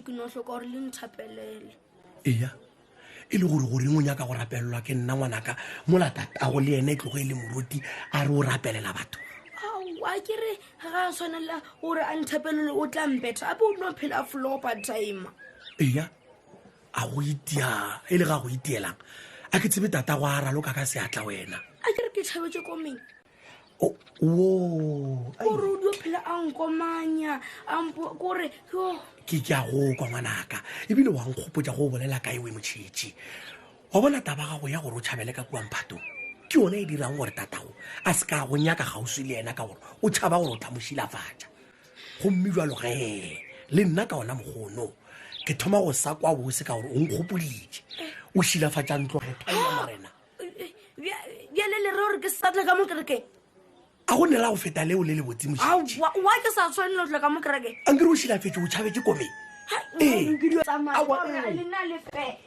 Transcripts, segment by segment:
ke no hloka gore le nthapelele eya e le gore goreng o nyaka go rapelelwa ke nna ngwanaka mola tatago le ene e tlogo e le moruti a re o rapelela batho aowa ke re ga a tshwanela gore a nthapelele o tla mbetha ape o no phela flopa time eya a go itia e le ga go itielang a ke tsebe tatago a raloka ka seatla wena a ke re ke tšhabetse komeng ore o dio phela a nkomanya kore ke ke a go kwa ngwanaka ebile wa nkgopotsa go o bolela ka ewe motšhetši wa bona taba gago ya gore o tšhabele ka kua mphatong ke yone e dirang gore tatago a se ka go nyaka kgauswi le yena ka gore o tšhaba gore o tla mo šilafatša gomme jalo ge le nna ka ona mokgono ke thoma go sa kwa bose ka gore o nkgopoditše o šilafatša ntlo ge thoma morena bjale le re gore ke sesatle ka mo kerekeng a go nera go feta leo le le botsimuwa ke sa tshwanelo tla ka mo kerekeng a nkere o šilafetse o tšhabetse kome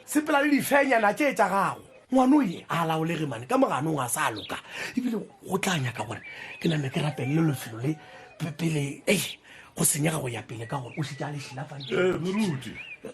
sepela le difenyana tše tša gago ngwano ye a laolege mane ka moganong a sa loka ebile go tla nyaka gore ke name ke rapelele lefelo le pele e go senyega go ya pele ka gore o šitša lešilafantšemoruti eh,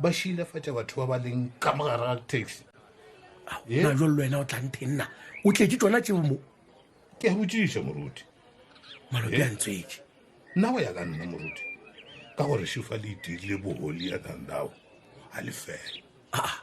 ba šilafatša batho ba ba leng ka mogare ga taxi Ye? na jalo le wena o tla ntheng na o tletse tsona tseo mo ke a botšiša moruti malope Ye? a ntswetse nna go ya ka nna moruti ka gore šifa le itirile boholi ya thandago a lefela aa